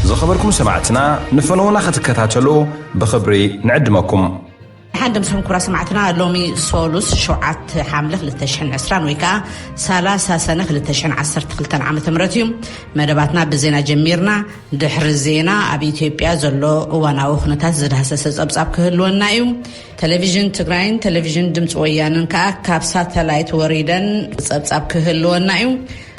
ዝኸበርኩም ሰማዕትና ንፈነዉና ክትከታተሉ ብኽብሪ ንዕድመኩም። ሓንድም ስም ኩራ ሰማዕትና ሎሚ ሶሉስ ሸውዓተ ሓምለ 220 ወይ ከዓ 30 ሰነ 212 ዓ ም እዩ መደባትና ብዜና ጀሚርና ድሕሪ ዜና ኣብ ኢትዮጵያ ዘሎ እዋናዊ ኩነታት ዝዳህሰሰ ፀብፃብ ክህልወና እዩ ተለቪዥን ትግራይን ተለቪዥን ድምፂ ወያነን ከኣ ካብ ሳተላይት ወሪደን ፀብፃብ ክህልወና እዩ።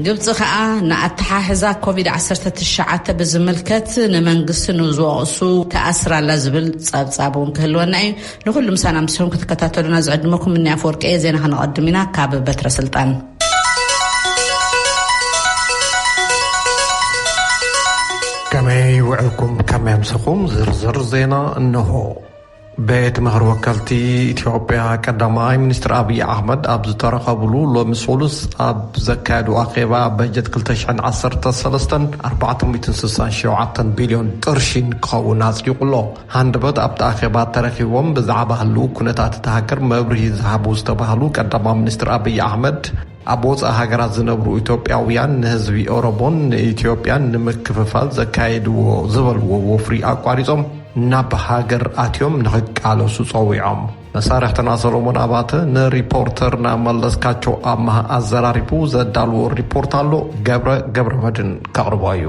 ግብፂ ከኣ ንኣተሓሕዛ ኮቪድ ዓሰርተ ትሽዓተ ብዝምልከት ንመንግስቲ ንዝወቕሱ ትኣስር ኣላ ዝብል ፀብፃብ እውን ክህልወና እዩ። ንኹሉ ምሳና ምስኹም ክትከታተሉና ዝዕድመኩም እኒ ኣፈወርቂ እየ። ዜና ከነቐድም ኢና ካብ በትረ ስልጣን ከመይ ውዕልኩም ከመይ ኣምሰኹም ዝርዝር ዜና እነሆ። ቤት ምኽሪ ወከልቲ ኢትዮጵያ ቀዳማይ ሚኒስትር ኣብዪ ኣሕመድ ኣብ ዝተረኸብሉ ሎሚ ሰሉስ ኣብ ዘካየዱ ኣኼባ በጀት 213ን 467 ቢልዮን ቅርሺን ክኸውን ኣጽዲቑ ኣሎ። ሃንደበት ኣብቲ ኣኼባ ተረኪቦም ብዛዕባ ህልው ኩነታት እታ ሃገር መብርሂ ዝሃቡ ዝተባህሉ ቀዳማይ ሚኒስትር ኣብዪ ኣሕመድ ኣብ ወፃኢ ሃገራት ዝነብሩ ኢትዮጵያውያን ንህዝቢ ኦሮሞን ንኢትዮጵያን ንምክፍፋል ዘካየድዎ ዝበልዎ ወፍሪ ኣቋሪፆም ናብ ሃገር ኣትዮም ንኽቃለሱ ፀዊዖም። መሳርሕትና ሰሎሞን ኣባተ ንሪፖርተርና መለስካቸው ኣማሃ ኣዘራሪቡ ዘዳልዎ ሪፖርት ኣሎ ገብረ ገብረመድን ከቕርቦ እዩ።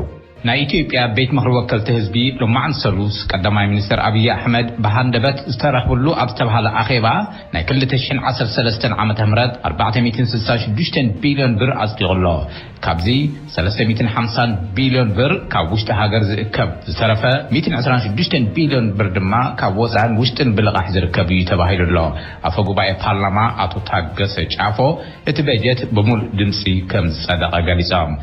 ናይ ኢትዮጵያ ቤት ምኽሪ ወከልቲ ህዝቢ ሎማዕንቲ ሰሉስ ቀዳማይ ሚኒስተር ኣብዪ ኣሕመድ ብሃንደበት ዝተረኽብሉ ኣብ ዝተብሃለ ኣኼባ ናይ ክልተ ሽሕን ዓሰርተ ሰለስተን ዓመተ ምህረት ኣርባዕተ ሚእትን ስልሳን ሽዱሽተን ቢልዮን ብር ኣጽዲቑ ኣሎ። ካብዚ ሰለስተ ሚእትን ሓምሳን ቢልዮን ብር ካብ ውሽጢ ሃገር ዝእከብ ዝተረፈ ሚእትን ዕስራን ሽዱሽተን ቢልዮን ብር ድማ ካብ ወጻእን ውሽጥን ብልቓሕ ዝርከብ እዩ ተባሂሉ ኣሎ። ኣፈ ጉባኤ ፓርላማ ኣቶ ታገሰ ጫፎ እቲ በጀት ብሙሉእ ድምጺ ከምዝጸደቐ ገሊጾም።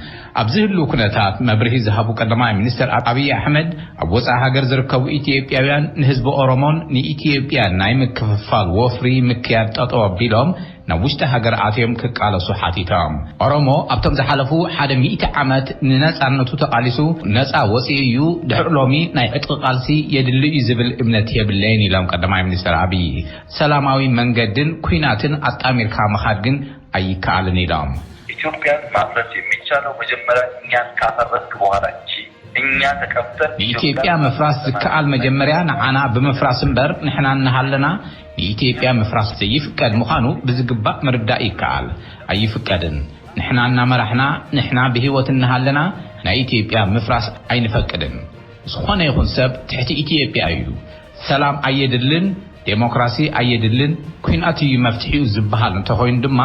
ኣብዚ ህሉው ኩነታት መብርሂ ዝሃቡ ቀዳማይ ሚኒስተር ኣብዪ ኣሕመድ፣ ኣብ ወጻኢ ሃገር ዝርከቡ ኢትዮጵያውያን ንህዝቢ ኦሮሞን ንኢትዮጵያን ናይ ምክፍፋል ወፍሪ ምክያድ ጠጠው ኣቢሎም ናብ ውሽጢ ሃገር ኣትዮም ክቃለሱ ሓቲቶም። ኦሮሞ ኣብቶም ዝሓለፉ ሓደ ሚእቲ ዓመት ንነጻነቱ ተቓሊሱ ነጻ ወጺኡ እዩ፣ ድሕሪ ሎሚ ናይ ዕጥቒ ቃልሲ የድሊ እዩ ዝብል እምነት የብለይን ኢሎም ቀዳማይ ሚኒስተር ኣብዪ። ሰላማዊ መንገድን ኲናትን ኣጣሚርካ ምኻድ ግን ኣይከኣልን ኢሎም። ኢትዮጵያን ማፍረስ የሚቻለው መጀመሪያ እኛን ካፈረስክ በኋላ እንጂ እኛ ተቀምጠን ንኢትዮጵያ ምፍራስ ዝከኣል መጀመሪያ ንዓና ብምፍራስ እምበር ንሕና እናሃለና ንኢትዮጵያ ምፍራስ ዘይፍቀድ ምዃኑ ብዝግባእ ምርዳእ ይከኣል። ኣይፍቀድን። ንሕና እናመራሕና ንሕና ብህይወት እናሃለና ናይ ኢትዮጵያ ምፍራስ ኣይንፈቅድን። ዝኾነ ይኹን ሰብ ትሕቲ ኢትዮጵያ እዩ። ሰላም ኣየድልን፣ ዴሞክራሲ ኣየድልን፣ ኲናት እዩ መፍትሒኡ ዝበሃል እንተኾይኑ ድማ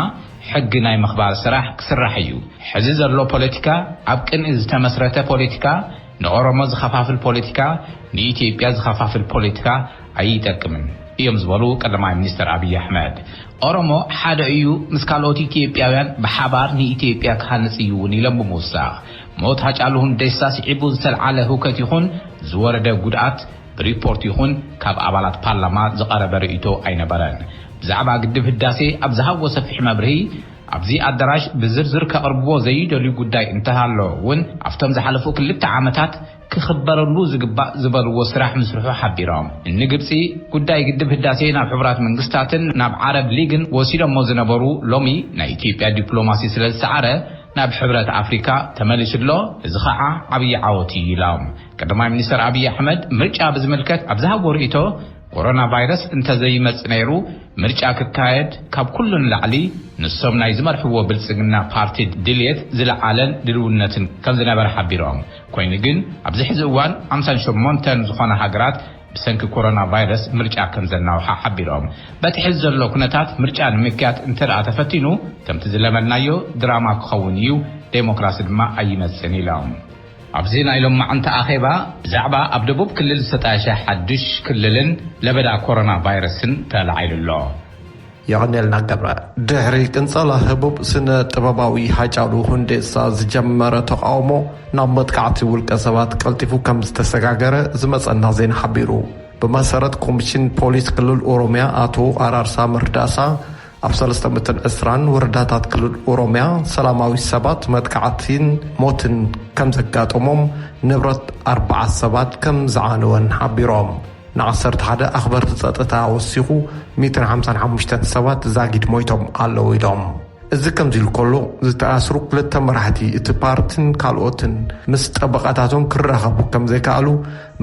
ሕጊ ናይ ምኽባር ስራሕ ክስራሕ እዩ። ሕዚ ዘሎ ፖለቲካ ኣብ ቅንኢ ዝተመስረተ ፖለቲካ፣ ንኦሮሞ ዝኸፋፍል ፖለቲካ፣ ንኢትዮጵያ ዝኸፋፍል ፖለቲካ ኣይጠቅምን እዮም ዝበሉ ቀዳማይ ሚኒስትር ኣብይ ኣሕመድ፣ ኦሮሞ ሓደ እዩ ምስ ካልኦት ኢትዮጵያውያን ብሓባር ንኢትዮጵያ ክሃንፅ እዩ እውን ኢሎም ብምውሳኽ ሞት ሃጫሉ ሁንዴሳ ስዒቡ ዝተልዓለ ህውከት ይኹን ዝወረደ ጉድኣት ሪፖርት ይኹን ካብ ኣባላት ፓርላማ ዝቐረበ ርእይቶ ኣይነበረን። ብዛዕባ ግድብ ህዳሴ ኣብ ዝሃብዎ ሰፊሕ መብርሂ፣ ኣብዚ ኣደራሽ ብዝርዝር ከቕርብዎ ዘይደልዩ ጉዳይ እንተሃሎ እውን ኣብቶም ዝሓለፉ ክልተ ዓመታት ክኽበረሉ ዝግባእ ዝበልዎ ስራሕ ምስርሑ ሓቢሮም። ንግብፂ ጉዳይ ግድብ ህዳሴ ናብ ሕቡራት መንግስታትን ናብ ዓረብ ሊግን ወሲዶሞ ዝነበሩ ሎሚ ናይ ኢትዮጵያ ዲፕሎማሲ ስለዝሰዓረ ናብ ሕብረት ኣፍሪካ ተመሊሱ ኣሎ፣ እዚ ከዓ ዓብዪ ዓወት እዩ ኢሎም። ቀዳማይ ሚኒስትር ኣብዪ ኣሕመድ ምርጫ ብዝምልከት ኣብ ዝሃብዎ ርኢቶ ኮሮና ቫይረስ እንተዘይመፅ ነይሩ ምርጫ ክካየድ ካብ ኩሉ ንላዕሊ ንሶም ናይ ዝመርሕዎ ብልፅግና ፓርቲ ድልየት ዝለዓለን ድልውነትን ከምዝነበረ ሓቢሮም። ኮይኑ ግን ኣብዚ ሕዚ እዋን ሓምሳን ሸሞንተን ዝኾና ሃገራት ብሰንኪ ኮሮና ቫይረስ ምርጫ ከምዘናውሓ ሓቢሮም። በቲ ሕዚ ዘሎ ኩነታት ምርጫ ንምክያድ እንተድኣ ተፈቲኑ ከምቲ ዝለመድናዮ ድራማ ክኸውን እዩ፣ ዴሞክራሲ ድማ ኣይመፅእን ኢሎም። ኣብዚ ናይ ሎማዕንቲ ኣኼባ ብዛዕባ ኣብ ደቡብ ክልል ዝተጣየሸ ሓዱሽ ክልልን ለበዳ ኮሮና ቫይረስን ተላዒሉ ኣሎ። የቐኔልና ገብረ ድሕሪ ቅንጸላ ህቡብ ስነ ጥበባዊ ሃጫሉ ሁንዴሳ ዝጀመረ ተቓውሞ ናብ መጥቃዕቲ ውልቀ ሰባት ቀልጢፉ ከምዝተሰጋገረ ዝመጸና ዜና ሓቢሩ። ብመሰረት ኮሚሽን ፖሊስ ክልል ኦሮሚያ ኣቶ ኣራርሳ መርዳሳ ኣብ ሰለስተ መቶን ዕስራን ወረዳታት ክልል ኦሮሚያ ሰላማዊ ሰባት መጥቃዕቲን ሞትን ከምዘጋጠሞም ንብረት ኣርባዓ ሰባት ከምዝዓነወን ሓቢሮም። ንዓሰርተ ሓደ ኣኽበርቲ ጸጥታ ወሲኹ ሚእትን ሓምሳን ሓሙሽተን ሰባት ዛጊድ ሞይቶም ኣለዉ ኢሎም። እዚ ከምዚሉ ከሎ ዝተኣስሩ ክልተ መራሕቲ እቲ ፓርቲን ካልኦትን ምስ ጠበቓታቶም ክራኸቡ ከምዘይከኣሉ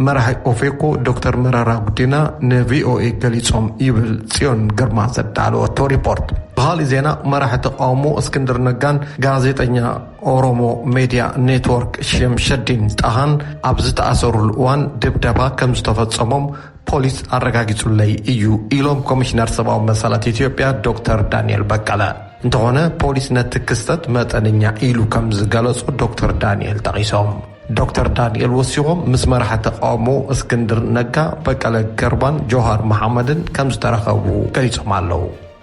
መራሒ ኦፌኮ ዶክተር መረራ ጉዲና ንቪኦኤ ገሊጾም ይብል ጽዮን ግርማ ዘዳለወቶ ሪፖርት። ብኻሊእ ዜና መራሒ ተቓውሞ እስክንድር ነጋን ጋዜጠኛ ኦሮሞ ሜድያ ኔትወርክ ሸምሸዲን ጣሃን ኣብ ዝተኣሰሩሉ እዋን ድብደባ ከምዝተፈፀሞም ፖሊስ ኣረጋጊፁለይ እዩ ኢሎም ኮሚሽነር ሰብኣዊ መሰላት ኢትዮጵያ ዶክተር ዳንኤል በቀለ። እንተኾነ ፖሊስ ነቲ ክስተት መጠነኛ ኢሉ ከምዝገለፆ ዶክተር ዳንኤል ጠቒሶም። ዶክተር ዳንኤል ወሲኾም ምስ መራሒ ተቃውሞ እስክንድር ነጋ፣ በቀለ ገርባን ጆሃር መሓመድን ከምዝተረኸቡ ገሊፆም ኣለው።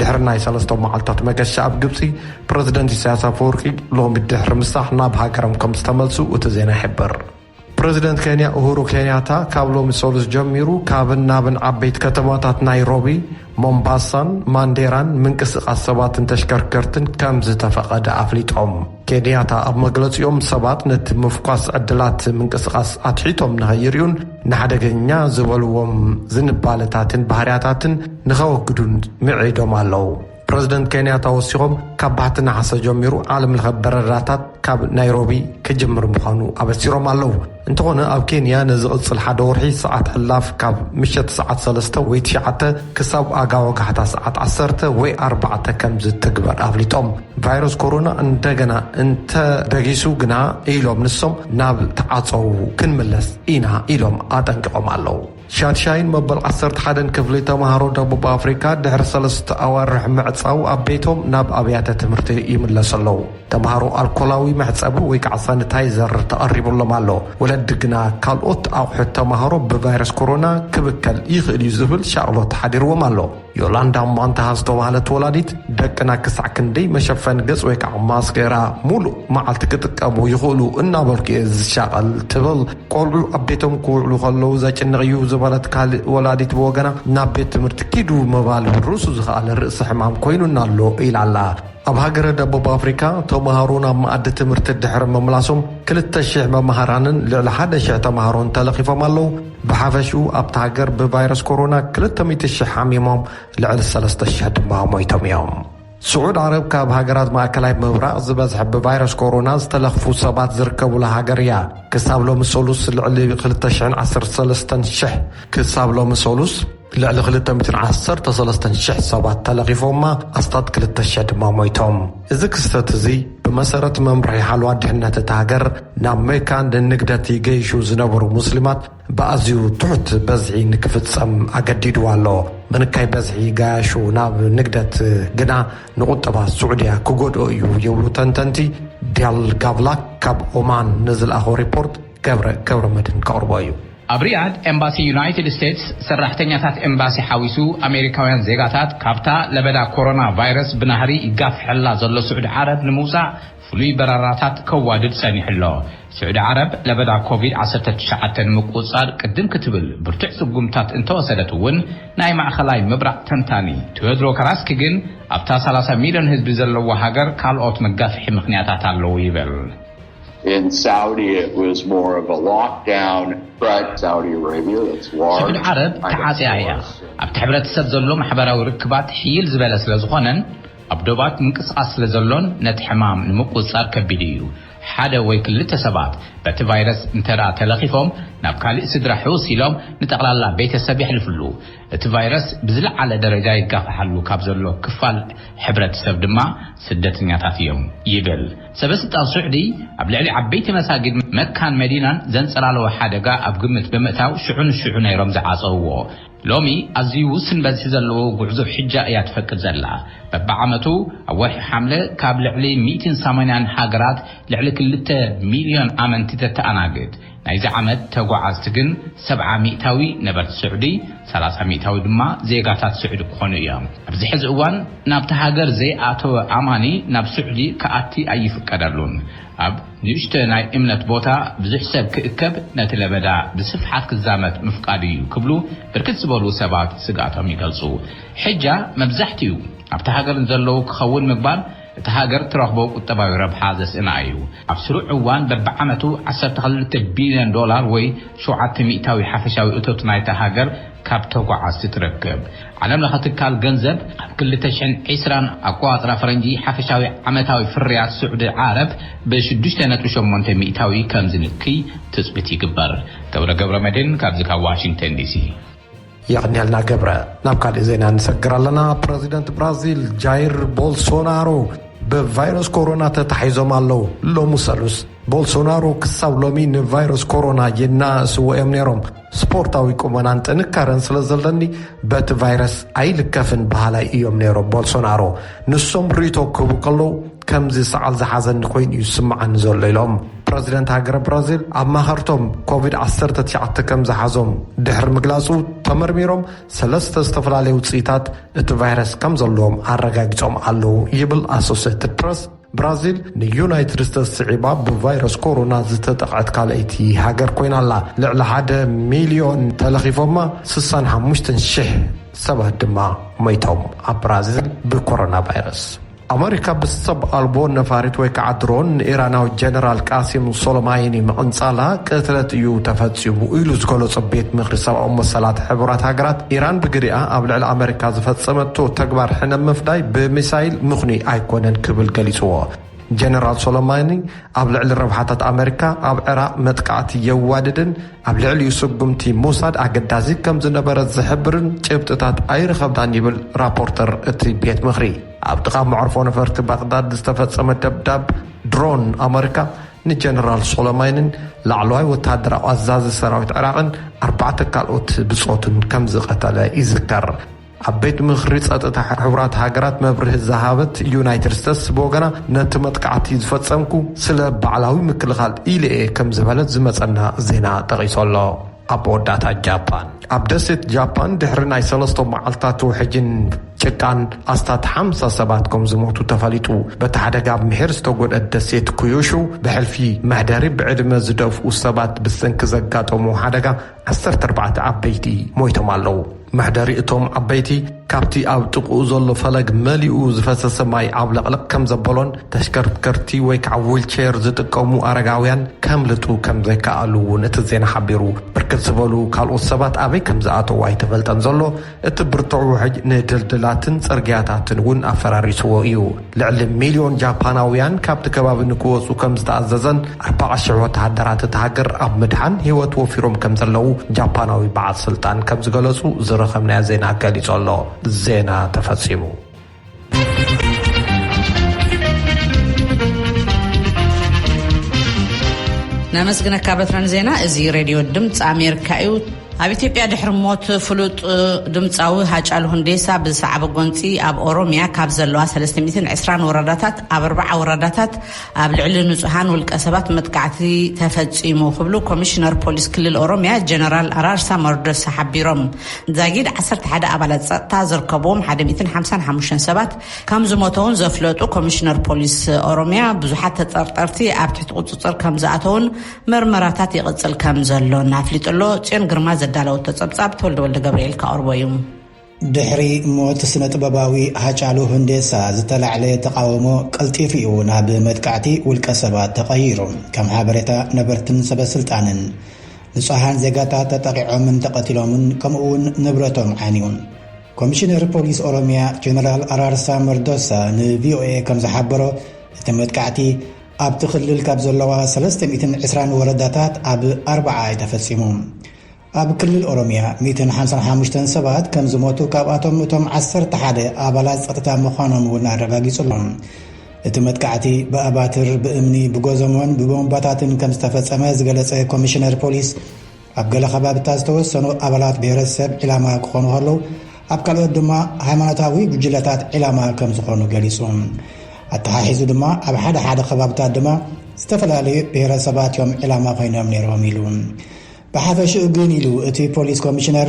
ድሕሪ ናይ ሰለስተ መዓልታት መገሻ ኣብ ግብጺ፣ ፕረዚደንት ኢሳያስ ኣፈወርቂ ሎሚ ድሕሪ ምሳሕ ናብ ሃገሮም ከም ዝተመልሱ እቲ ዜና ይሕብር። ፕረዚደንት ኬንያ ኡሁሩ ኬንያታ ካብ ሎሚ ሰሉስ ጀሚሩ ካብን ናብን ዓበይቲ ከተማታት ናይሮቢ፣ ሞምባሳን ማንዴራን ምንቅስቓስ ሰባትን ተሽከርከርትን ከም ዝተፈቐደ ኣፍሊጦም። ኬንያታ ኣብ መግለጺኦም ሰባት ነቲ ምፍኳስ ዕድላት ምንቅስቓስ ኣትሒቶም ንኸይርእዩን ንሓደገኛ ዝበልዎም ዝንባለታትን ባህርያታትን ንኸወግዱን ምዒዶም ኣለዉ። ፕረዚደንት ኬንያታ ወሲኾም ካብ ባሕቲ ነሓሰ ጀሚሩ ዓለምለኸ በረራታት ካብ ናይሮቢ ክጅምር ምዃኑ ኣበሲሮም ኣለዉ። እንተኾነ ኣብ ኬንያ ንዝቕጽል ሓደ ወርሒ ሰዓት ዕላፍ ካብ ምሸት ሰዓት ሰለስተ ወይ ትሽዓተ ክሳብ ኣጋ ወጋሕታ ሰዓት ዓሰርተ ወይ ኣርባዕተ ከም ዝትግበር ኣፍሊጦም። ቫይረስ ኮሮና እንደገና እንተ በጊሱ ግና ኢሎም ንሶም ናብ ተዓጸዉ ክንምለስ ኢና ኢሎም ኣጠንቂቖም ኣለዉ። ሻድሻይን መበል ዓሰርተ ሓደን ክፍሊ ተማሃሮ ደቡብ ኣፍሪካ ድሕሪ ሰለስተ ኣዋርሕ ምዕፃው ኣብ ቤቶም ናብ ኣብያተ ትምህርቲ ይምለሱ ኣለዉ። ተማሃሮ ኣልኮላዊ መሕፀቢ ወይ ከዓ ሳኒታይዘር ተቐሪቡሎም ኣሎ። ወለዲ ግና ካልኦት ኣቑሑት ተማሃሮ ብቫይረስ ኮሮና ክብከል ይኽእል እዩ ዝብል ሻቕሎት ሓዲርዎም ኣሎ። ዮላንዳ ሟንታሃ ዝተባህለት ወላዲት፣ ደቅና ክሳዕ ክንደይ መሸፈኒ ገጽ ወይ ከዓ ማስኬራ ሙሉእ መዓልቲ ክጥቀሙ ይኽእሉ እናበልኩ እየ ዝሻቐል ትብል። ቆልዑ ኣብ ቤቶም ክውዕሉ ከለዉ ዘጭንቕ እዩ ዝበለት ካልእ ወላዲት ብወገና፣ ናብ ቤት ትምህርቲ ኪዱ ምባል ብርእሱ ዝኸኣለ ርእሲ ሕማም ኮይኑና ኣሎ ኢላ'ላ። ኣብ ሃገረ ደቡብ ኣፍሪካ፣ ተምሃሮ ናብ መኣዲ ትምህርቲ ድሕሪ ምምላሶም ክልተ ሽሕ መማህራንን ልዕሊ ሓደ ሽሕ ተምሃሮን ተለኺፎም ኣለዉ። ብሓፈሽኡ ኣብታ ሃገር ብቫይረስ ኮሮና ክልተ ሚእቲ ሽሕ ሓሚሞም ልዕሊ ሰለስተ ሽሕ ድማ ሞይቶም እዮም። ስዑድ ዓረብ ካብ ሃገራት ማእከላይ ምብራቕ ዝበዝሐ ብቫይረስ ኮሮና ዝተለኽፉ ሰባት ዝርከቡላ ሃገር እያ። ክሳብ ሎሚ ሰሉስ ልዕሊ ክልተ ሽሕን ዓሰርተ ሰለስተን ሽሕ ክሳብ ሎሚ ሰሉስ፣ ልዕሊ ክልተ ሚእትን ዓሰርተ ሰለስተን ሽሕ ሰባት ተለኺፎማ፣ ኣስታት ክልተ ሽሕ ድማ ሞይቶም። እዚ ክስተት እዚ ብመሰረት መምርሒ ሓልዋ ድሕነት እታ ሃገር ናብ መካ ንንግደት ይገይሹ ዝነበሩ ሙስሊማት ብኣዝዩ ትሑት በዝሒ ንክፍጸም ኣገዲድዋ ኣሎ። ምንካይ በዝሒ ገያሹ ናብ ንግደት ግና ንቁጠባ ስዑድያ ክጎድኦ እዩ ይብሉ ተንተንቲ። ቢያል ጋቭላክ ካብ ኦማን ንዝልኣኾ ሪፖርት። ገብረ ገብረመድህን ከቕርቦ እዩ። ኣብ ሪያድ ኤምባሲ ዩናይትድ ስቴትስ ሰራሕተኛታት ኤምባሲ ሓዊሱ ኣሜሪካውያን ዜጋታት ካብታ ለበዳ ኮሮና ቫይረስ ብናህሪ ይጋፍሐላ ዘሎ ስዑዲ ዓረብ ንምውፃእ ፍሉይ በረራታት ከዋድድ ፀኒሑ'ሎ። ስዑዲ ዓረብ ለበዳ ኮቪድ ዓሰርተ ትሽዓተ ንምቁፅፃር ቅድም ክትብል ብርቱዕ ስጉምትታት እንተወሰደት እውን ናይ ማእኸላይ ምብራቕ ተንታኒ ቲዎድሮ ካራስኪ ግን ኣብታ ሰላሳ ሚሊዮን ህዝቢ ዘለዋ ሃገር ካልኦት መጋፍሒ ምኽንያታት ኣለዉ ይብል። ስዑዲ ዓረብ ተዓጽያ እያ፣ ኣብቲ ሕብረተሰብ ዘሎ ማሕበራዊ ርክባት ሕይል ዝበለ ስለ ዝኾነን ኣብ ዶባት ምንቅስቓስ ስለ ዘሎን ነቲ ሕማም ንምቁጽጻር ከቢድ እዩ። ሓደ ወይ ክልተ ሰባት በቲ ቫይረስ እንተድኣ ተለኺፎም ናብ ካልእ ስድራ ሕውስ ኢሎም ንጠቕላላ ቤተሰብ የሕልፍሉ። እቲ ቫይረስ ብዝለዓለ ደረጃ ይጋፋሓሉ ካብ ዘሎ ክፋል ሕብረተሰብ ድማ ስደተኛታት እዮም ይብል። ሰበስልጣን ሱዕዲ ኣብ ልዕሊ ዓበይቲ መሳጊድ መካን መዲናን ዘንጸላለወ ሓደጋ ኣብ ግምት ብምእታው ሽዑ ንሽዑ ነይሮም ዝዓጸውዎ። ሎሚ ኣዝዩ ውስን በዝሒ ዘለዎ ጉዕዞ ሕጃ እያ ትፈቅድ ዘላ። በብዓመቱ ኣብ ወርሒ ሓምለ ካብ ልዕሊ ሚእቲን ሰማንያን ሃገራት ልዕሊ ክልተ ሚልዮን ኣመንቲ ተተኣናግድ። ናይዚ ዓመት ተጓዓዝቲ ግን ሰብዓ ሚእታዊ ነበርቲ ስዑዲ፣ ሰላሳ ሚእታዊ ድማ ዜጋታት ስዑዲ ክኾኑ እዮም። ኣብዚ ሕዚ እዋን ናብታ ሃገር ዘይኣተወ ኣማኒ ናብ ስዑዲ ክኣቲ ኣይፍቀደሉን። ኣብ ንእሽቶ ናይ እምነት ቦታ ብዙሕ ሰብ ክእከብ ነቲ ለበዳ ብስፍሓት ክዛመት ምፍቃዱ እዩ ክብሉ ብርክት ዝበሉ ሰባት ስግኣቶም ይገልጹ። ሕጃ መብዛሕቲኡ ኣብታ ሃገር ንዘለዉ ክኸውን ምግባር፣ እታ ሃገር ትረኽቦ ቁጠባዊ ረብሓ ዘስእና እዩ። ኣብ ስሩዕ እዋን በብዓመቱ ዓሰርተ ክልተ ቢልዮን ዶላር ወይ ሸውዓተ ሚእታዊ ሓፈሻዊ እቶት ናይታ ሃገር ካብ ተጓዓዝቲ ትረክብ። ዓለም ለኸ ትካል ገንዘብ ኣብ ክልተ ሽሕን ዕስራን ኣቆፃፅራ ፈረንጂ ሓፈሻዊ ዓመታዊ ፍርያት ስዑዲ ዓረብ ብ ሽዱሽተ ነጥቢ ሸሞንተ ሚእታዊ ከምዝንክይ ትፅቢት ይግበር። ገብረ ገብረመድህን ካብዚ ካብ ዋሽንግተን ዲሲ። የቐንየልና ገብረ። ናብ ካሊእ ዜና ንሰግር ኣለና። ፕረዚደንት ብራዚል ጃይር ቦልሶናሮ ብቫይረስ ኮሮና ተታሒዞም ኣለዉ። ሎሚ ሰሉስ ቦልሶናሮ ክሳብ ሎሚ ንቫይረስ ኮሮና የናእስዎ እዮም ነይሮም። ስፖርታዊ ቁመናን ጥንካረን ስለ ዘለኒ በቲ ቫይረስ ኣይልከፍን በሃላይ እዮም ነይሮም ቦልሶናሮ። ንሶም ርኢቶ ክህቡ ከለዉ ከምዚ ሰዓል ዝሓዘኒ ኮይኑ እዩ ዝስምዓኒ ዘሎ ኢሎም። ፕረዚደንት ሃገረ ብራዚል ኣማኸርቶም ኮቪድ ዓሰርተ ትሽዓተ ከም ዝሓዞም ድሕሪ ምግላጹ ተመርሚሮም ሰለስተ ዝተፈላለዩ ውጽኢታት እቲ ቫይረስ ከም ዘለዎም ኣረጋጊጾም ኣለዉ ይብል ኣሶሴትድ ፕረስ። ብራዚል ንዩናይትድ ስቴትስ ስዒባ ብቫይረስ ኮሮና ዝተጠቕዐት ካልኣይቲ ሃገር ኮይና ኣላ። ልዕሊ ሓደ ሚልዮን ተለኺፎማ፣ ስሳን ሓሙሽተን ሽሕ ሰባት ድማ ሞይቶም ኣብ ብራዚል ብኮሮና ቫይረስ። ኣመሪካ ምስ ሰብ ኣልቦ ነፋሪት ወይ ከዓ ድሮን ንኢራናዊ ጀነራል ቃሲም ሶሎማይኒ ምቕንጻላ ቅትለት እዩ ተፈጺሙ ኢሉ ዝገለጾ ቤት ምኽሪ ሰብኣዊ መሰላት ሕቡራት ሃገራት ኢራን ብግዲኣ ኣብ ልዕሊ ኣመሪካ ዝፈጸመቶ ተግባር ሕነ ምፍዳይ ብሚሳይል ምኽኑይ ኣይኮነን ክብል ገሊጽዎ። ጀነራል ሶሎማይኒ ኣብ ልዕሊ ረብሓታት ኣመሪካ ኣብ ዕራቕ መጥቃዕቲ የዋድድን ኣብ ልዕሊኡ ስጉምቲ ምውሳድ ኣገዳሲ ከም ዝነበረ ዝሕብርን ጭብጥታት ኣይረኸብናን ይብል ራፖርተር እቲ ቤት ምኽሪ። ኣብ ጥቓ መዕርፎ ነፈርቲ ባቕዳድ ዝተፈጸመ ደብዳብ ድሮን ኣመሪካ ንጀነራል ሶሎማይንን ላዕለዋይ ወተሃደራዊ ኣዛዚ ሰራዊት ዕራቕን ኣርባዕተ ካልኦት ብጾቱን ከም ዝቐተለ ይዝከር። ኣብ ቤት ምኽሪ ጸጥታ ሕቡራት ሃገራት መብርሂ ዝሃበት ዩናይትድ ስቴትስ ብወገና ነቲ መጥቃዕቲ ዝፈጸምኩ ስለ ባዕላዊ ምክልኻል ኢለ'የ ከም ዝበለት ዝመጸና ዜና ጠቒሱ ኣሎ። ኣብ መወዳእታ ጃፓን ኣብ ደሴት ጃፓን ድሕሪ ናይ ሰለስተ መዓልትታት ውሕጅን ጭቃን ኣስታት ሓምሳ ሰባት ከም ዝሞቱ ተፈሊጡ። በቲ ሓደጋ ኣብ ምሒር ዝተጎድአት ደሴት ኩዩሹ ብሕልፊ መሕደሪ ብዕድመ ዝደፍኡ ሰባት ብሰንኪ ዘጋጠሙ ሓደጋ ዓሰርተ ኣርባዕተ ዓበይቲ ሞይቶም ኣለዉ። መሕደሪ እቶም ዓበይቲ ካብቲ ኣብ ጥቕኡ ዘሎ ፈለግ መሊኡ ዝፈሰሰ ማይ ዓብለቕለቕ ከም ዘበሎን ተሽከርከርቲ ወይ ከዓ ዊልቼር ዝጥቀሙ ኣረጋውያን ከምልጡ ከም ዘይከኣሉ እውን እቲ ዜና ሓቢሩ። ብርክት ዝበሉ ካልኦት ሰባት ኣበይ ከም ዝኣተዉ ኣይተፈልጠን ዘሎ። እቲ ብርቱዕ ውሕጅ ንድልድላትን ጽርግያታትን እውን ኣፈራሪስዎ እዩ። ልዕሊ ሚልዮን ጃፓናውያን ካብቲ ከባቢ ንክወጹ ከም ዝተኣዘዘን ኣርባዓ ሽሕ ወተሃደራት እታ ሃገር ኣብ ምድሓን ህይወት ወፊሮም ከም ዘለዉ ጃፓናዊ በዓል ስልጣን ከም ዝገለጹ ዝረኸብናዮ ዜና ገሊጹ ኣሎ። ዜና ተፈጺሙ። ነመስግነካ በትረን ዜና እዚ ሬድዮ ድምፂ ኣሜሪካ እዩ ኣብ ኢትዮጵያ ድሕሪ ሞት ፍሉጥ ድምፃዊ ሃጫሉ ሁንዴሳ ብዝሰዓበ ጎንፂ ኣብ ኦሮሚያ ካብ ዘለዋ 320 ወረዳታት ኣብ ኣርባዓ ወረዳታት ኣብ ልዕሊ ንፁሃን ውልቀ ሰባት መጥቃዕቲ ተፈፂሙ ክብሉ ኮሚሽነር ፖሊስ ክልል ኦሮሚያ ጀነራል ኣራርሳ መርዶሳ ሓቢሮም ዛጊድ ዓሰርተ ሓደ ኣባላት ፀጥታ ዝርከብዎም ሓደ ሚእትን ሓምሳን ሓሙሽተን ሰባት ከም ዝሞተውን ዘፍለጡ ኮሚሽነር ፖሊስ ኦሮሚያ ብዙሓት ተጠርጠርቲ ኣብ ትሕቲ ቁፅፅር ከም ዝኣተውን መርመራታት ይቕፅል ከም ዘሎን ኣፍሊጡሎ ፅዮን ግርማ ዘዳለወቶ ፀብፃብ ተወልደ ወልደ ገብርኤል ካቕርቦ እዩ ድሕሪ ሞት ስነ ጥበባዊ ሃጫሉ ሁንዴሳ ዝተላዕለ ተቃውሞ ቀልጢፉ እዩ ናብ መጥቃዕቲ ውልቀ ሰባት ተቐይሩ ከም ሓበሬታ ነበርትን ሰበስልጣንን ንፁሃን ዜጋታት ተጠቒዖምን ተቐቲሎምን ከምኡ ውን ንብረቶም ዓንዩ። ኮሚሽነር ፖሊስ ኦሮሚያ ጀነራል ኣራርሳ መርዶሳ ንቪኦኤ ከምዝሓበሮ እቲ መጥቃዕቲ ኣብቲ ክልል ካብ ዘለዋ ሰለስተ ሚእትን ዕስራን ወረዳታት ኣብ ኣርብዓ እዩ ተፈፂሙ። ኣብ ክልል ኦሮሚያ ሚእትን ሓምሳን ሓሙሽተን ሰባት ከምዝሞቱ ካብኣቶም እቶም ዓሰርተ ሓደ ኣባላት ፀጥታ ምዃኖም እውን ኣረጋጊፁ ኣሎ። እቲ መጥቃዕቲ ብኣባትር፣ ብእምኒ፣ ብጎዘሞን ብቦምባታትን ከም ዝተፈጸመ ዝገለጸ ኮሚሽነር ፖሊስ፣ ኣብ ገለ ከባብታት ዝተወሰኑ ኣባላት ብሄረሰብ ዒላማ ክኾኑ ከለዉ፣ ኣብ ካልኦት ድማ ሃይማኖታዊ ጉጅለታት ዒላማ ከም ዝኾኑ ገሊጹ። ኣተሓሒዙ ድማ ኣብ ሓደ ሓደ ከባብታት ድማ ዝተፈላለዩ ብሄረሰባት እዮም ዒላማ ኮይኖም ነይሮም ኢሉ። ብሓፈሽኡ ግን ኢሉ እቲ ፖሊስ ኮሚሽነር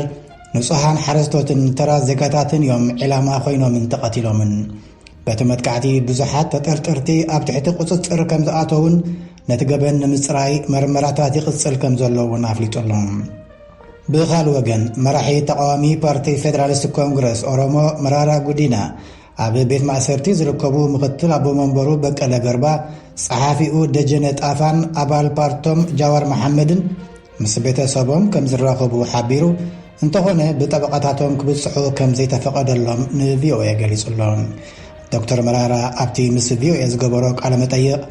ንጹሃን ሓረስቶትን ተራ ዜጋታትን እዮም ዒላማ ኮይኖምን ተቐቲሎምን። በቲ መጥቃዕቲ ብዙሓት ተጠርጠርቲ ኣብ ትሕቲ ቁጽጽር ከም ዝኣተዉን ነቲ ገበን ንምጽራይ መርመራታት ይቕጽል ከም ዘሎ እውን ኣፍሊጡ ኣሎ። ብኻል ወገን መራሒ ተቃዋሚ ፓርቲ ፌደራሊስት ኮንግረስ ኦሮሞ መራራ ጉዲና ኣብ ቤት ማእሰርቲ ዝርከቡ ምክትል ኣቦ መንበሩ በቀለ ገርባ፣ ጸሓፊኡ ደጀነ ጣፋን ኣባል ፓርቶም ጃዋር መሓመድን ምስ ቤተሰቦም ከም ዝራኸቡ ሓቢሩ፣ እንተኾነ ብጠበቓታቶም ክብጽሑ ከም ዘይተፈቐደሎም ንቪኦኤ ገሊጹ ኣሎ። ዶክተር መራራ ኣብቲ ምስ ቪኦኤ ዝገበሮ ቃለ መጠይቕ፣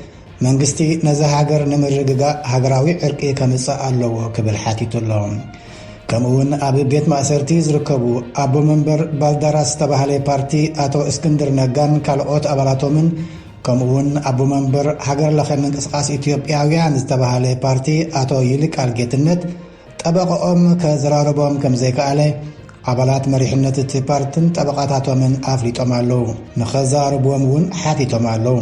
መንግስቲ ነዛ ሃገር ንምርግጋእ ሃገራዊ ዕርቂ ከምጽእ ኣለዎ ክብል ሓቲቱ ኣሎ። ከምኡ'ውን ኣብ ቤት ማእሰርቲ ዝርከቡ ኣቦ መንበር ባልዳራስ ዝተባህለ ፓርቲ ኣቶ እስክንድር ነጋን ካልኦት ኣባላቶምን፣ ከምኡ'ውን ኣቦ መንበር ሃገር ለኸ ምንቅስቓስ ኢትዮጵያውያን ዝተባህለ ፓርቲ ኣቶ ይልቃል ጌትነት ጠበቐኦም ከዘራርቦም ከም ዘይከኣለ ኣባላት መሪሕነት እቲ ፓርትን ጠበቓታቶምን ኣፍሊጦም ኣለዉ። ንኸዛርብዎም እውን ሓቲቶም ኣለዉ።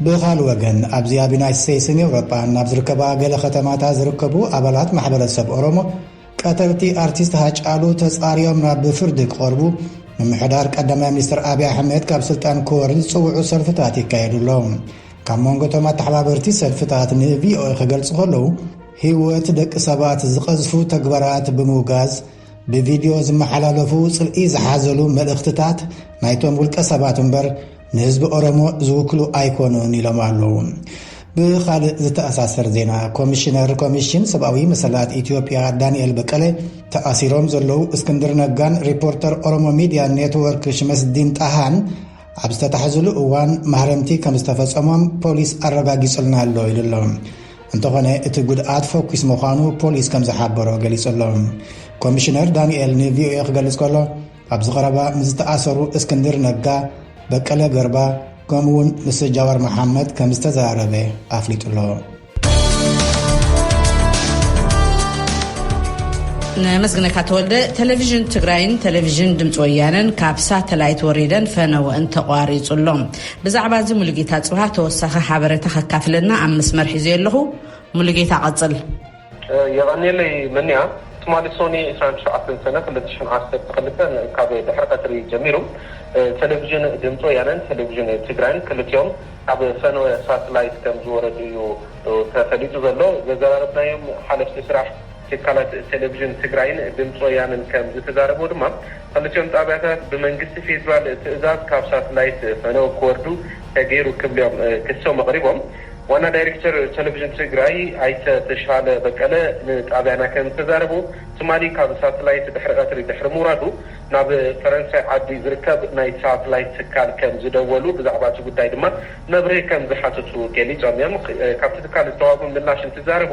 ብኻልእ ወገን ኣብዚ ኣብ ዩናይትድ ስቴትስን ኤውሮጳን ኣብ ዝርከባ ገለ ከተማታት ዝርከቡ ኣባላት ማሕበረሰብ ኦሮሞ ቀተልቲ ኣርቲስት ሃጫሉ ተጻርዮም ናብ ፍርዲ ክቐርቡ ምምሕዳር ቀዳማይ ሚኒስትር ኣብዪ ኣሕመድ ካብ ስልጣን ክወርድ ዝጽውዑ ሰልፍታት ይካየዱ ኣሎ። ካብ መንጎቶም ኣተሓባበርቲ ሰልፍታት ንቪኦኤ ክገልጹ ከለዉ ህይወት ደቂ ሰባት ዝቐዝፉ ተግባራት ብምውጋዝ ብቪድዮ ዝመሓላለፉ ጽልኢ ዝሓዘሉ መልእኽትታት ናይቶም ውልቀ ሰባት እምበር ንህዝቢ ኦሮሞ ዝውክሉ ኣይኮኑን ኢሎም ኣለዉ። ብኻልእ ዝተኣሳሰር ዜና ኮሚሽነር ኮሚሽን ሰብኣዊ መሰላት ኢትዮጵያ ዳንኤል በቀለ ተኣሲሮም ዘለዉ እስክንድር ነጋን ሪፖርተር ኦሮሞ ሚድያ ኔትወርክ ሽመስዲን ጣሃን ኣብ ዝተታሕዝሉ እዋን ማህረምቲ ከም ዝተፈጸሞም ፖሊስ ኣረጋጊጹልና ኣሎ ኢሉ ኣሎ። እንተኾነ እቲ ጉድኣት ፈኲስ ምዃኑ ፖሊስ ከም ዝሓበሮ ገሊጹ ኣሎ። ኮሚሽነር ዳንኤል ንቪኦኤ ክገልጽ ከሎ ኣብዚ ቐረባ ምስ ዝተኣሰሩ እስክንድር ነጋ፣ በቀለ ገርባ ከምኡ'ውን ምስ ጃዋር መሓመድ ከም ዝተዘራረበ ኣፍሊጡ'ሎ። ነመስግነካ ተወልደ ቴሌቭዥን ትግራይን ቴሌቭዥን ድምፂ ወያነን ካብ ሳተላይት ወሪደን ፈነወ እንተቋሪፁ ኣሎ ብዛዕባ እዚ ሙሉጌታ ፅብሃ ተወሳኺ ሓበሬታ ከካፍለና ኣብ መስመር ሒዘ ኣለኹ ሙሉጌታ ቀፅል የቐንየለይ መንያ! ትማሊ ሶኒ ዕስራን ትሽዓተን ሰነ ክልተ ሽሕን ዓሰርተ ክልተን ካብ ድሕሪ ቀትሪ ጀሚሩ ቴሌቪዥን ድምፂ ወያነን ቴሌቪዥን ትግራይን ክልቲኦም ኣብ ፈነወ ሳትላይት ከም ዝወረዱ እዩ ተፈሊጡ ዘሎ። ዘዘራረብናዮም ሓለፍቲ ስራሕ ትካላት ቴሌቪዥን ትግራይን ድምፂ ወያነን ከም ዝተዛረብዎ ድማ ኽልቲኦም ጣብያታት ብመንግስቲ ፌዴራል ትእዛዝ ካብ ሳትላይት ፈነወ ክወርዱ ተገይሩ ክብሊኦም ክሶም ኣቕሪቦም። ዋና ዳይሬክተር ተለቪዥን ትግራይ ኣይተ ተሻለ በቀለ ንጣብያና ከም ዝተዛረቡ፣ ትማሊ ካብ ሳትላይት ድሕሪ ቀትሪ ድሕሪ ምውራዱ ናብ ፈረንሳይ ዓዲ ዝርከብ ናይ ሳትላይት ትካል ከም ዝደወሉ ብዛዕባ እቲ ጉዳይ ድማ መብርሂ ከም ዝሓተቱ ገሊፆም እዮም። ካብቲ ትካል ዝተዋህቦም ምላሽ እንትዛረቡ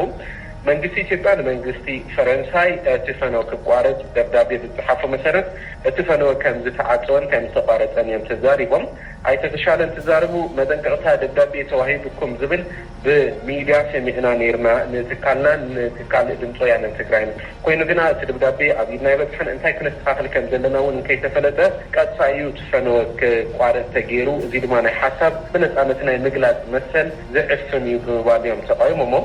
መንግስቲ ኢትዮጵያ ንመንግስቲ ፈረንሳይ እቲ ፈነወ ክቋረፅ ደብዳቤ ብዝፀሓፎ መሰረት እቲ ፈነወ ከም ዝተዓፀወን ከም ዝተቋረፀን እዮም ተዛሪቦም። ኣይተ ተሻለ እንትዛረቡ መጠንቀቕታ ደብዳቤ ተዋሂቡኩም ዝብል ብሚድያ ሰሚዕና ነይርና ንትካልናን ንትካል ድምፂ ወያነ ትግራይን። ኮይኑ ግና እቲ ደብዳቤ ኣብ ኢድና ኣይበፅሐን፣ እንታይ ክነስተኻኽል ከምዘለና እውን እንከይተፈለጠ ቀጥታ እዩ እቲ ፈነወ ክቋረፅ ተገይሩ፣ እዙይ ድማ ናይ ሓሳብ ብነፃነት ናይ ምግላፅ መሰል ዝዕፍን እዩ ብምባል እዮም ተቓዊሞሞ።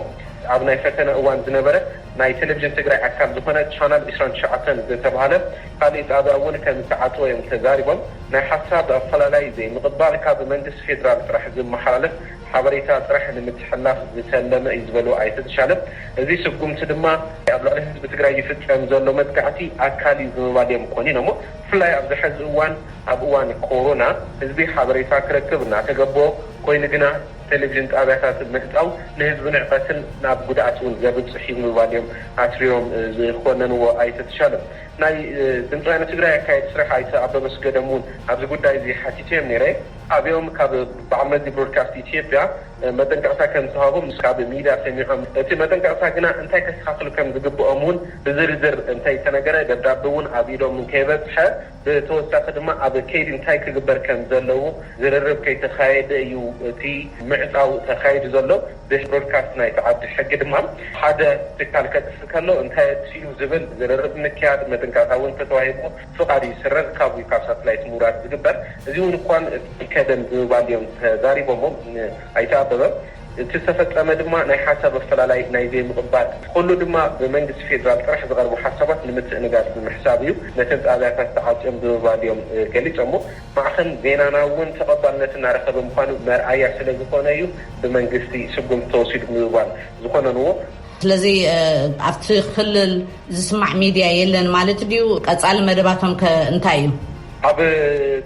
ኣብ ናይ ፈተነ እዋን ዝነበረ ናይ ቴሌቪዥን ትግራይ ኣካል ዝኾነ ቻናል ዕስራን ትሽዓተን ዝተብሃለ፣ ካሊእ ጣብያ እውን ከምዝተዓፀወ እዮም ተዛሪቦም። ናይ ሓሳብ ኣፈላላይ ዘይምቕባል ካብ መንግስቲ ፌዴራል ጥራሕ ዝመሓላለፍ ሓበሬታ ጥራሕ ንምትሕልላፍ ዝተለመ እዩ ዝበሉ ኣይተ ተሻለ እዚ ስጉምቲ ድማ ኣብ ልዕሊ ህዝቢ ትግራይ ይፍፀም ዘሎ መጥቃዕቲ ኣካል እዩ ብምባል እዮም ኮኒኖሞ። ብፍላይ ኣብዚ ሐዚ እዋን ኣብ እዋን ኮሮና ህዝቢ ሓበሬታ ክረክብ እናተገበኦ ኮይኑ ግና ቴሌቪዥን ጣብያታት ምህፃው ንህዝቢ ንዕቀትን ናብ ጉድኣት እውን ዘብፅሕ እዩ ብምባል እዮም ኣትሪሮም ዝኮነንዎ ኣይተ ተሻለ። ናይ ድምፂ ወያነ ትግራይ ኣካየዲ ስራሕ ኣይተ ኣበበ ኣስገዶም እውን ኣብዚ ጉዳይ እዚ ሓቲተዮም ነይረ። ኣብኦም ካብ በዓል መዚ ብሮድካስት ኢትዮጵያ መጠንቀቕታ ከም ዝተውሃቦም ንሱ ካብ ሚድያ ሰሚዖም። እቲ መጠንቀቕታ ግና እንታይ ከስተኻኽሉ ከም ዝግበኦም እውን ብዝርዝር እንተይተነገረ፣ ደብዳበ እውን ኣብ ኢዶም እንከይበፅሐ፣ ብተወሳኺ ድማ ኣብ ከይዲ እንታይ ክግበር ከም ዘለዎ ዝርርብ ከይተኻየደ እዩ እቲ ምዕፃው ተኻይዱ ዘሎ። ቤት ብሮድካስት ናይቲ ዓዲ ሕጊ ድማ፣ ሓደ ትካል ከጥፍእ ከሎ እንታይ ኣጥፊኡ ዝብል ዝርርብ ምክያድ፣ መጥንቃታ እውን እንተተዋሂቡ ፍቓድ ይስረዝ ካብኡ ካብ ሳትላይት ምውራድ ዝግበር። እዚ እውን እኳን እቲ ከደን ብምባል እዮም ተዛሪቦሞ ንኣይተ ኣበበ። እቲ ዝተፈፀመ ድማ ናይ ሓሳብ ኣፈላላይ፣ ናይ ዘይምቕባል፣ ኩሉ ድማ ብመንግስቲ ፌዴራል ጥራሕ ዝቐርቡ ሓሳባት ንምትእንጋድ ብምሕሳብ እዩ ነተን ጣብያታት ተዓፅዮም ብምባል እዮም ገሊፆሞ። ማዕኸን ዜናና እውን ተቐባልነት እናረኸበ ምዃኑ መርኣያ ስለዝኾነ እዩ ብመንግስቲ ስጉምቲ ተወሲዱ ብምባል ዝኾነንዎ። ስለዚ ኣብቲ ክልል ዝስማዕ ሚድያ የለን ማለት ድዩ? ቀፃሊ መደባቶም ከ እንታይ እዩ? ኣብ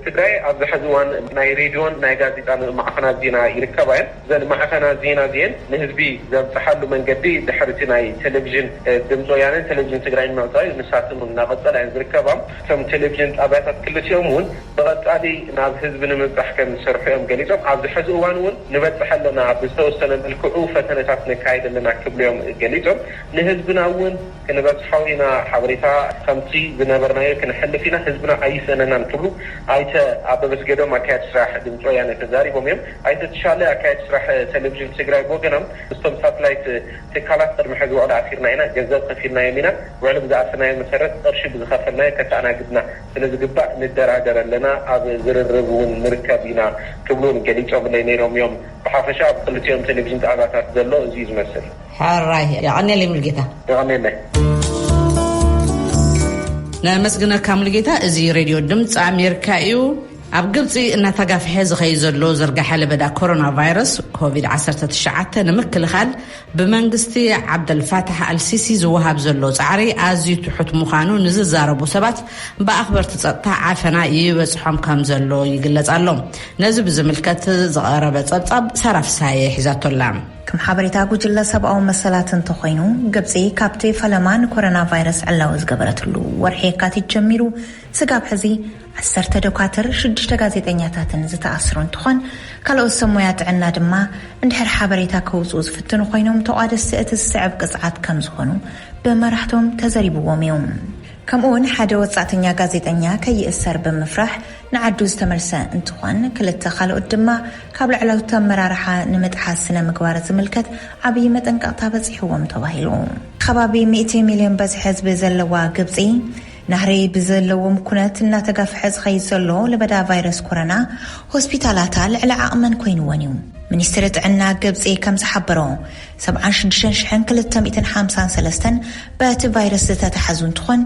ትግራይ ኣብዚ ሐዚ እዋን ናይ ሬድዮን ናይ ጋዜጣን ማዕኸናት ዜና ይርከባ እየን። እዘን ማዕኸናት ዜና እዚኤን ንህዝቢ ዘብፀሓሉ መንገዲ ድሕሪ እቲ ናይ ቴሌቪዥን ድምፂ ወያነን ቴሌቪዥን ትግራይን ምዕፃው እዩ። ንሳተን እውን እናቐፀላ እየን ዝርከባ። እቶም ቴሌቪዥን ጣብያታት ክልቲኦም እውን ብቐፃሊ ናብ ህዝቢ ንምብፃሕ ከምዝሰርሑ እዮም ገሊፆም። ኣብዚ ሐዚ እዋን እውን ንበፅሕ ኣለና፣ ብዝተወሰነ መልክዑ ፈተነታት ነካይድ ኣለና ክብሉ እዮም ገሊፆም። ንህዝብና እውን ክንበፅሖ ኢና፣ ሓበሬታ ከምቲ ዝነበርናዮ ክነሕልፍ ኢና፣ ህዝብና ኣይስእነናን ክብሉ ኣይተ ኣበበ ስገዶም ኣካየድቲ ስራሕ ድምፂ ወያነ ተዛሪቦም እዮም። ኣይተ ተሻለ ኣካየድቲ ስራሕ ቴሌቪዥን ትግራይ ብወገኖም ምስቶም ሳትላይት ትካላት ቅድሚ ሕዚ ወቕዲ ኣሲርና ኢና፣ ገንዘብ ከፊልናዮም ኢና፣ ውዕሊ ብዝኣሰናዮ መሰረት ቕርሺ ብዝኸፈልናዮ ከተኣናግድና ስለ ዝግባእ ንደራደር ኣለና፣ ኣብ ዝርርብ ውን ንርከብ ኢና ክብሉ ውን ገሊፆምለይ ነይሮም ዮም። ብሓፈሻ ኣብ ኽልቲኦም ቴሌቪዥን ጣብያታት ዘሎ እዚ ዩ ዝመስል። ሕራይ የቐኔለይ ሙሉጌታ። የቐኔለይ። ነመስግነካ ሙሉጌታ እዚ ሬድዮ ድምፂ ኣሜርካ እዩ። ኣብ ግብፂ እናተጋፍሐ ዝኸይድ ዘሎ ዝርጋሐ ለበዳ ኮሮና ቫይረስ ኮቪድ ዓሰርተ ትሽዓተ ንምክልኻል ብመንግስቲ ዓብደልፋታሕ ኣልሲሲ ዝወሃብ ዘሎ ፃዕሪ ኣዝዩ ትሑት ምዃኑ ንዝዛረቡ ሰባት ብኣኽበርቲ ፀጥታ ዓፈና ይበፅሖም ከም ዘሎ ይግለፅ ኣሎ። ነዚ ብዝምልከት ዝቐረበ ፀብፃብ ሳራ ፍስሃየ ሒዛቶ ኣላ። ከም ሓበሬታ ጉጅለ ሰብኣዊ መሰላት እንተኾይኑ፣ ግብፂ ካብቲ ፈለማ ንኮሮና ቫይረስ ዕላዊ ዝገበረትሉ ወርሒ የካቲት ጀሚሩ፣ ስጋብ ሕዚ ዓሰርተ ዶካትር ሽዱሽተ ጋዜጠኛታትን ዝተኣስሩ እንትኾን ካልኦት ሰብ ሞያ ጥዕና ድማ እንድሕር ሓበሬታ ከውፅኡ ዝፍትኑ ኮይኖም ተቋደስቲ እቲ ዝስዕብ ቅፅዓት ከምዝኾኑ ብመራሕቶም ተዘሪብዎም እዩ። ከምኡ ውን ሓደ ወፃእተኛ ጋዜጠኛ ከይእሰር ብምፍራሕ ንዓዱ ዝተመልሰ እንትኾን ክልተ ካልኦት ድማ ካብ ላዕለዎት ኣመራርሓ ንምጥሓስ ስነ ምግባር ዝምልከት ዓብይ መጠንቀቕታ በፂሕዎም ተባሂሉ። ኸባቢ ሚእቲ ሚልዮን በዝሒ ህዝቢ ዘለዋ ግብፂ፣ ናህሪ ብዘለዎም ኩነት እናተጋፍሐ ዝኸይድ ዘሎ ለበዳ ቫይረስ ኮረና ሆስፒታላታ ልዕሊ ዓቕመን ኮይንወን እዩ። ሚኒስትሪ ጥዕና ግብጺ ከም ዝሓበሮ ሰብዓን ሽዱሽተን ሽሕን ክልተ ሚእትን ሓምሳን ሰለስተን በቲ ቫይረስ ዝተታሕዙ እንትኾን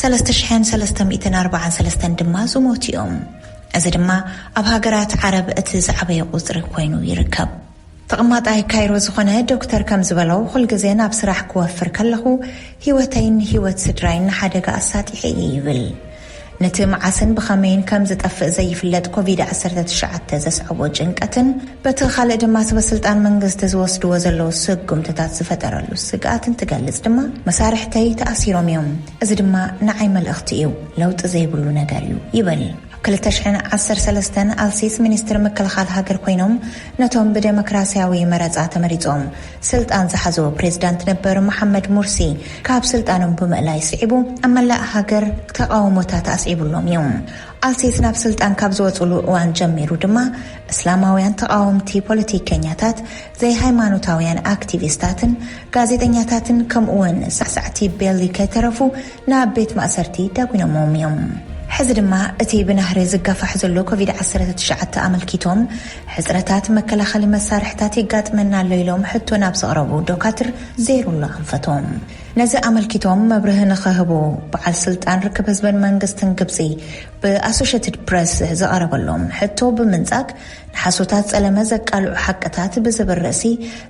ሰለስተ ሽሕን ሰለስተ ሚእትን ኣርባዓን ሰለስተን ድማ ዝሞቱ እዮም። እዚ ድማ ኣብ ሃገራት ዓረብ እቲ ዝዓበየ ቁጽሪ ኮይኑ ይርከብ። ተቐማጣይ ካይሮ ዝኾነ ዶክተር ከም ዝበሎ፣ ኹል ግዜ ናብ ስራሕ ክወፍር ከለኹ ህይወተይን ህይወት ስድራይን ንሓደጋ ኣሳጢሐ እየ ይብል። ነቲ መዓስን ብኸመይን ከም ዝጠፍእ ዘይፍለጥ ኮቪድ ዓሰርተ ትሽዓተ ዘስዐቦ ጭንቀትን በቲ ካልእ ድማ ሰበስልጣን መንግስቲ ዝወስድዎ ዘለዉ ስጉምትታት ዝፈጠረሉ ስግኣት እንትገልጽ ድማ መሳርሕተይ ተኣሲሮም እዮም፣ እዚ ድማ ንዓይ መልእኽቲ እዩ፣ ለውጢ ዘይብሉ ነገር እዩ ይብል። ኣብ ክልተ ሽሕን ዓሰርተ ሰለስተን ኣልሲስ ሚኒስትር ምክልኻል ሃገር ኮይኖም ነቶም ብደሞክራሲያዊ መረጻ ተመሪጾም ስልጣን ዝሓዙ ፕሬዚዳንት ነበር መሓመድ ሙርሲ ካብ ስልጣኖም ብምእላይ ስዒቡ ኣብ መላእ ሃገር ተቓውሞታት ኣስዒቡሎም እዩ። ኣልሲስ ናብ ስልጣን ካብ ዝወጹሉ እዋን ጀሚሩ ድማ እስላማውያን ተቓወምቲ ፖለቲከኛታት ዘይሃይማኖታውያን ኣክቲቪስታትን ጋዜጠኛታትን ከምኡ'ውን ሳዕሳዕቲ ቤሊ ከይተረፉ ናብ ቤት ማእሰርቲ ዳጒኖምዎም እዮም። ሕዚ ድማ እቲ ብናህሪ ዝጋፋሕ ዘሎ ኮቪድ ዓሰርተ ትሽዓተ ኣመልኪቶም ሕጽረታት መከላኸሊ መሳርሕታት የጋጥመና ኣሎ ኢሎም ሕቶ ናብ ዘቕረቡ ዶካትር ዜሩላ ኣንፈቶም ነዚ ኣመልኪቶም መብርህ ንኸህቡ በዓል ስልጣን ርክብ ህዝብን መንግስትን ግብጺ ብኣሶሸትድ ፕረስ ዝቐረበሎም ሕቶ ብምንጻግ ንሓሶታት ጸለመ ዘቃልዑ ሓቅታት ብዝብል ርእሲ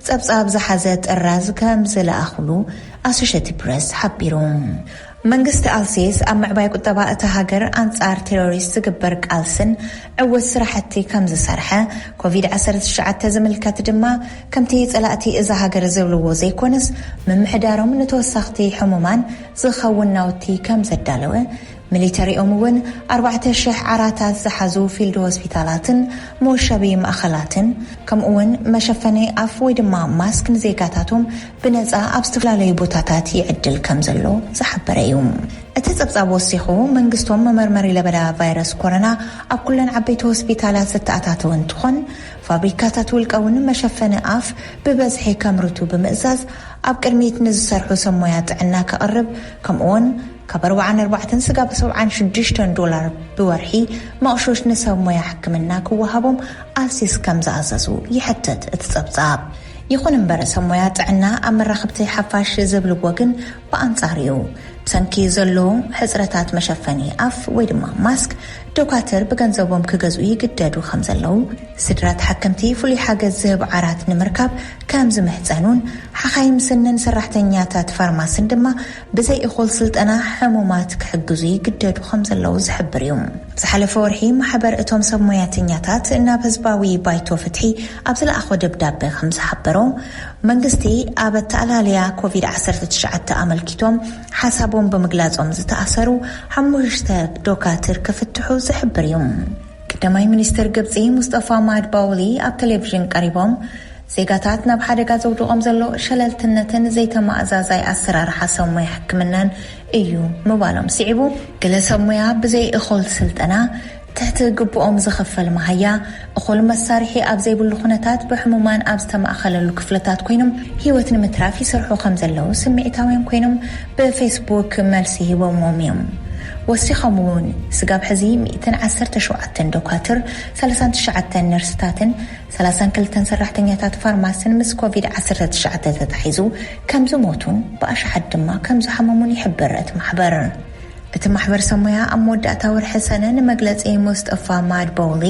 ጸብጻብ ዝሓዘ ጥራዝ ከም ዝለኣኹሉ ኣሶሸትድ ፕረስ ሓቢሩ። መንግስቲ ኣልሴስ ኣብ ምዕባይ ቁጠባ እታ ሃገር፣ ኣንጻር ቴሮሪስት ዝግበር ቃልስን ዕውት ስራሕቲ ከም ዝሰርሐ፣ ኮቪድ ዓሰርተ ትሽዓተ ዝምልከት ድማ ከምቲ ጸላእቲ እዛ ሃገር ዝብልዎ ዘይኮነስ ምምሕዳሮም ንተወሳኽቲ ሕሙማን ዝኸውን ናውቲ ከም ዘዳለወ ሚሊተሪኦም እውን ኣርባዕተ ሽሕ ዓራታት ዝሓዙ ፊልድ ሆስፒታላትን መወሸቢ ማእኸላትን ከምኡ እውን መሸፈኒ ኣፍ ወይ ድማ ማስክ ንዜጋታቶም ብነፃ ኣብ ዝተፈላለዩ ቦታታት ይዕድል ከም ዘሎ ዝሓበረ እዩ። እቲ ፀብፃብ ወሲኹ መንግስቶም መመርመሪ ለበዳ ቫይረስ ኮረና ኣብ ኩለን ዓበይቲ ሆስፒታላት ዘተኣታተወ እንትኾን ፋብሪካታት ውልቀ እውን መሸፈኒ ኣፍ ብበዝሒ ከምርቱ ብምእዛዝ ኣብ ቅድሚት ንዝሰርሑ ሰብ ሞያ ጥዕና ከቕርብ ከምኡ እውን ካብ ኣርብዓን ኣርባዕተን ስጋብ ሰብዓን ሽዱሽተን ዶላር ብወርሒ መቕሾሽ ንሰብ ሞያ ሕክምና ክወሃቦም ኣልሲስ ከም ዝኣዘዙ ይሕትት እቲ ጸብጻብ። ይኹን እምበር ሰብ ሞያ ጥዕና ኣብ መራኸብቲ ሓፋሽ ዝብልዎ ግን ብኣንጻሩ'ዩ። ብሰንኪ ዘሎ ሕጽረታት መሸፈኒ ኣፍ ወይ ድማ ማስክ ዶካትር ብገንዘቦም ክገዝኡ ይግደዱ ከም ዘለዉ፣ ስድራ ተሓከምቲ ፍሉይ ሓገዝ ዝህብ ዓራት ንምርካብ ከም ዝምሕጸኑን ሓኻይም ስንን ሰራሕተኛታት ፋርማስን ድማ ብዘይ እኹል ስልጠና ሕሙማት ክሕግዙ ይግደዱ ከም ዘለዉ ዝሕብር እዩ። ኣብ ዝሓለፈ ወርሒ ማሕበር እቶም ሰብ ሞያተኛታት ናብ ህዝባዊ ባይቶ ፍትሒ ኣብ ዝለኣኾ ደብዳበ ከም ዝሓበሮ፣ መንግስቲ ኣብ ኣተኣላልያ ኮቪድ ዓሰርተ ትሽዓተ ኣመልኪቶም ሓሳቦም ብምግላጾም ዝተኣሰሩ ሓሙሽተ ዶካትር ክፍትሑ ዝሕብር እዩ። ቀዳማይ ሚኒስተር ግብጺ ሙስጠፋ ማድባውሊ ኣብ ተሌቪዥን ቀሪቦም፣ ዜጋታት ናብ ሓደጋ ዘውድቖም ዘሎ ሸለልትነትን ዘይተማእዛዛይ ኣሰራርሓ ሰብ ሞያ ሕክምናን እዩ ምባሎም ስዒቡ፣ ገለ ሰብ ሞያ ብዘይ እኹል ስልጠና፣ ትሕቲ ግቡኦም ዝኽፈል መሃያ፣ እኹል መሳርሒ ኣብ ዘይብሉ ኩነታት ብሕሙማን ኣብ ዝተማእከለሉ ክፍልታት ኮይኖም ህይወት ንምትራፍ ይሰርሑ ከምዘለዉ ስምዒታውያን ኮይኖም ብፌስቡክ መልሲ ሂቦምዎም እዮም። ወሲኾም እውን ስጋብ ሕዚ ሚእትን ዓሰርተ ሸውዓተን ዶኳትር፣ ሰላሳን ትሽዓተን ነርስታትን ሰላሳን ክልተን ሰራሕተኛታት ፋርማሲን ምስ ኮቪድ ዓሰርተ ትሽዓተ ተታሒዙ ከምዝሞቱን ብኣሽሓት ድማ ከምዝሓመሙን ይሕብር እቲ ማሕበር። እቲ ማሕበር ሰብ ሞያ ኣብ መወዳእታ ወርሒ ሰነ ንመግለጺ ሙስጠፋ ማድቦውሊ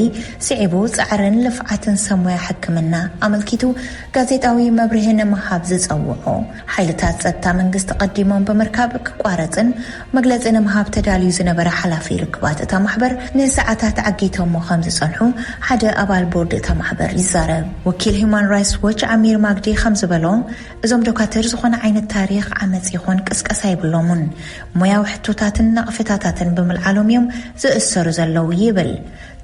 ስዒቡ ጻዕርን ልፍዓትን ሰብ ሞያ ሕክምና ኣመልኪቱ ጋዜጣዊ መብርሂ ንምሃብ ዝጸውዖ ሓይልታት ፀጥታ መንግስቲ ቀዲሞም ብምርካብ ክቋረፅን መግለፂ ንምሃብ ተዳልዩ ዝነበረ ሓላፊ ርክባት እታ ማሕበር ንሰዓታት ዓጊቶሞ ከምዝፀንሑ ሓደ ኣባል ቦርድ እታ ማሕበር ይዛረብ። ወኪል ሂዩማን ራይትስ ዎች ዓሚር ማግዲ ከምዝበሎ እዞም ዶካትር ዝኾነ ዓይነት ታሪኽ ዓመፅ ይኹን ቅስቀሳ የብሎሙን። ሞያዊ ሕቶታትን ነቐፌታታትን ብምልዓሎም እዮም ዝእሰሩ ዘለዉ ይብል።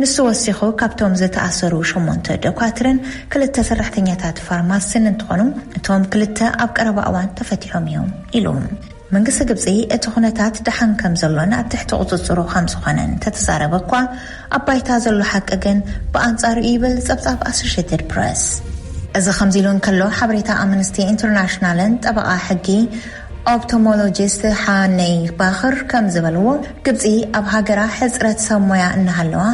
ንሱ ወሲኹ ካብቶም ዝተኣሰሩ ሸሞንተ ዶኳትርን ክልተ ሰራሕተኛታት ፋርማሲን እንትኾኑ እቶም ክልተ ኣብ ቀረባ እዋን ተፈቲሖም እዮም ኢሉ። መንግስቲ ግብፂ እቲ ኩነታት ደሓን ከምዘሎን ኣብ ትሕቲ ቁፅፅሩ ከምዝኾነን እንተተዛረበ እኳ ኣብ ባይታ ዘሎ ሓቂ ግን ብኣንፃሩ እዩ ይብል ፀብፃብ ኣሶሼትድ ፕረስ። እዚ ከምዚ ኢሉ እንከሎ ሓበሬታ ኣምንስቲ ኢንተርናሽናልን ጠበቓ ሕጊ፣ ኦፕቶሞሎጂስት ሓነይ ባኽር ከም ዝበልዎ፣ ግብጺ ኣብ ሃገራ ሕጽረት ሰብ ሞያ እናሃለዋ፣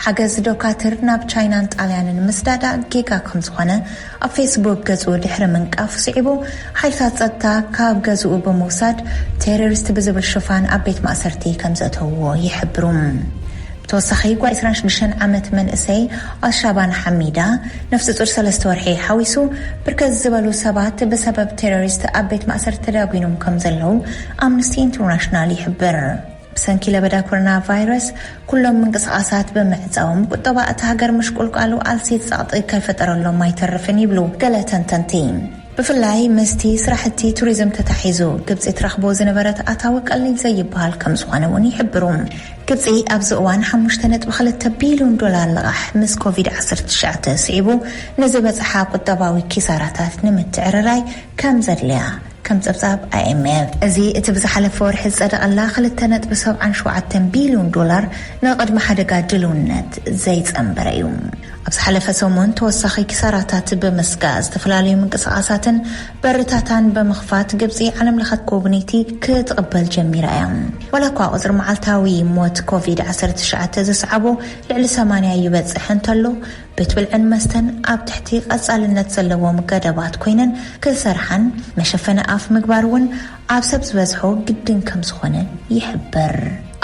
ሓገዝ ዶካትር ናብ ቻይናን ጣልያንን ምስዳዳ ጌጋ ከም ዝኾነ ኣብ ፌስቡክ ገጹ ድሕሪ ምንቃፉ ስዒቡ፣ ሓይልታት ጸጥታ ካብ ገዝኡ ብምውሳድ ቴረሪስት ብዝብል ሽፋን ኣብ ቤት ማእሰርቲ ከም ዘእተውዎ ይሕብሩ። ብተወሳኺ ጓል ዕስራን ሽዱሽተን ዓመት መንእሰይ ኣልሻባን ሓሚዳ፣ ነፍሰጹር ሰለስተ ወርሒ ሓዊሱ ብርከት ዝበሉ ሰባት ብሰበብ ቴሮሪስት ኣብ ቤት ማእሰርቲ ተዳጒኖም ከም ዘለዉ ኣምንስቲ ኢንትርናሽናል ይሕብር። ብሰንኪ ለበዳ ኮሮና ቫይረስ ኩሎም ምንቅስቓሳት ብምዕጻዎም ቁጠባ እታ ሃገር ምሽቁልቃሉ ኣልሲት ጸቕጢ ከይፈጠረሎም ኣይተርፍን ይብሉ ገለ ተንተንቲ። ብፍላይ ምስቲ ስራሕቲ ቱሪዝም ተታሒዙ ግብፂ ትረኽቦ ዝነበረት ኣታዊ ቀሊል ዘይበሃል ከምዝኾነ እውን ይሕብሩ። ግብፂ ኣብዚ እዋን ሓሙሽተ ነጥቢ ክልተ ቢልዮን ዶላር ልቓሕ ምስ ኮቪድ ዓሰርተ ትሽዓተ ስዒቡ ንዝበፅሓ ቁጠባዊ ኪሳራታት ንምትዕርራይ ከምዘድልያ ከም ፀብፃብ IMF እዚ እቲ ብዝሓለፈ ወርሒ ዝፀደቐላ ክልተ ነጥቢ ሰብዓን ሸውዓተን ቢልዮን ዶላር ንቕድሚ ሓደጋ ድልውነት ዘይፀንበረ እዩ። ኣብ ዝሓለፈ ሰሙን ተወሳኺ ኪሳራታት ብምስጋእ ዝተፈላለዩ ምንቅስቓሳትን በርታታን ብምኽፋት ግብጺ ዓለም ለኸ ጎብነይቲ ክትቕበል ጀሚራ እያ። ዋላኳ ቁጽሪ መዓልታዊ ሞት ኮቪድ ዓሰርተ ትሽዓተ ዘስዓቦ ልዕሊ ሰማንያ ይበጽሕ እንተሎ ቤት ብልዕን መስተን ኣብ ትሕቲ ቀጻልነት ዘለዎም ገደባት ኮይነን ክሰርሓን መሸፈኒ ኣፍ ምግባር እውን ኣብ ሰብ ዝበዝሖ ግድን ከምዝኾነ ይሕበር።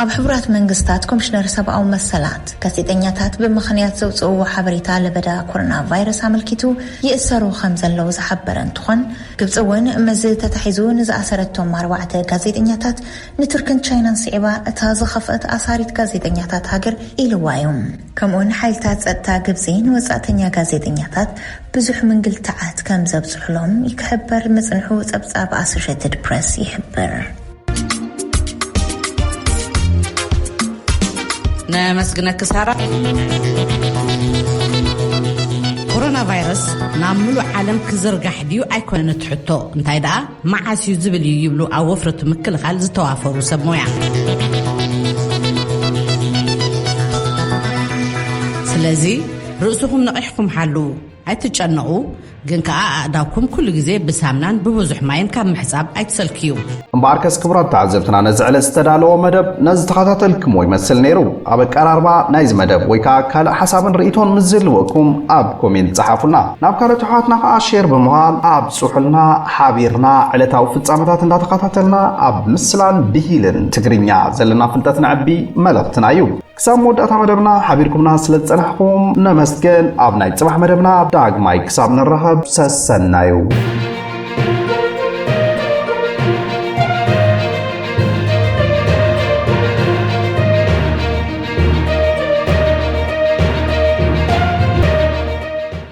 ኣብ ሕቡራት መንግስታት ኮምሽነር ሰብኣዊ መሰላት፣ ጋዜጠኛታት ብምኽንያት ዘውጽእዎ ሓበሬታ ለበዳ ኮሮና ቫይረስ ኣመልኪቱ ይእሰሩ ከምዘለዉ ዝሓበረ እንትኾን፣ ግብጺ እውን ምስዚ ተታሒዙ ንዝኣሰረቶም ኣርባዕተ ጋዜጠኛታት ንቱርክን ቻይናን ስዒባ እታ ዝኸፍአት ኣሳሪት ጋዜጠኛታት ሃገር ኢልዋ እዩ። ከምኡውን ሓይልታት ጸጥታ ግብጺ ንወጻእተኛ ጋዜጠኛታት ብዙሕ ምንግልታዓት ከም ዘብጽሑሎም ይክሕበር ምጽንሑ ጸብጻብ ኣሶሸትድ ፕረስ ይሕብር። ነመስግነኪ ሳራ። ኮሮና ቫይረስ ናብ ምሉእ ዓለም ክዝርጋሕ ድዩ ኣይኮነን እቲ ሕቶ እንታይ ደኣ መዓስ እዩ ዝብል እዩ ይብሉ ኣብ ወፍረቱ ምክልኻል ዝተዋፈሩ ሰብ ሞያ። ስለዚ ርእስኹም ነቒሕኩም ሓልዉ ኣይትጨነቑ ግን ከኣ ኣእዳውኩም ኩሉ ግዜ ብሳምናን ብብዙሕ ማይን ካብ ምሕጻብ ኣይትሰልክዩ እምበኣርከስ ክቡራት ተዓዘብትና ነዚ ዕለት ዝተዳለዎ መደብ ነዚ ተኸታተልክሞ ይመስል ነይሩ ኣብ ኣቀራርባ ናይዚ መደብ ወይ ከዓ ካልእ ሓሳብን ርእቶን ምስ ዝህልወኩም ኣብ ኮሜንት ፀሓፉልና ናብ ካልኦት ኣሕዋትና ከዓ ሼር ብምባል ኣብ ጽሑልና ሓቢርና ዕለታዊ ፍጻመታት እንዳተኻታተልና ኣብ ምስላን ብሂልን ትግርኛ ዘለና ፍልጠት ነዕቢ መልእኽትና እዩ። ክሳብ መወዳእታ መደብና ሓቢርኩምና ስለ ዝጸናሕኩም ነመስገን። ኣብ ናይ ጽባሕ መደብና ዳግማይ ክሳብ ንራኸብ ሰሰናዩ።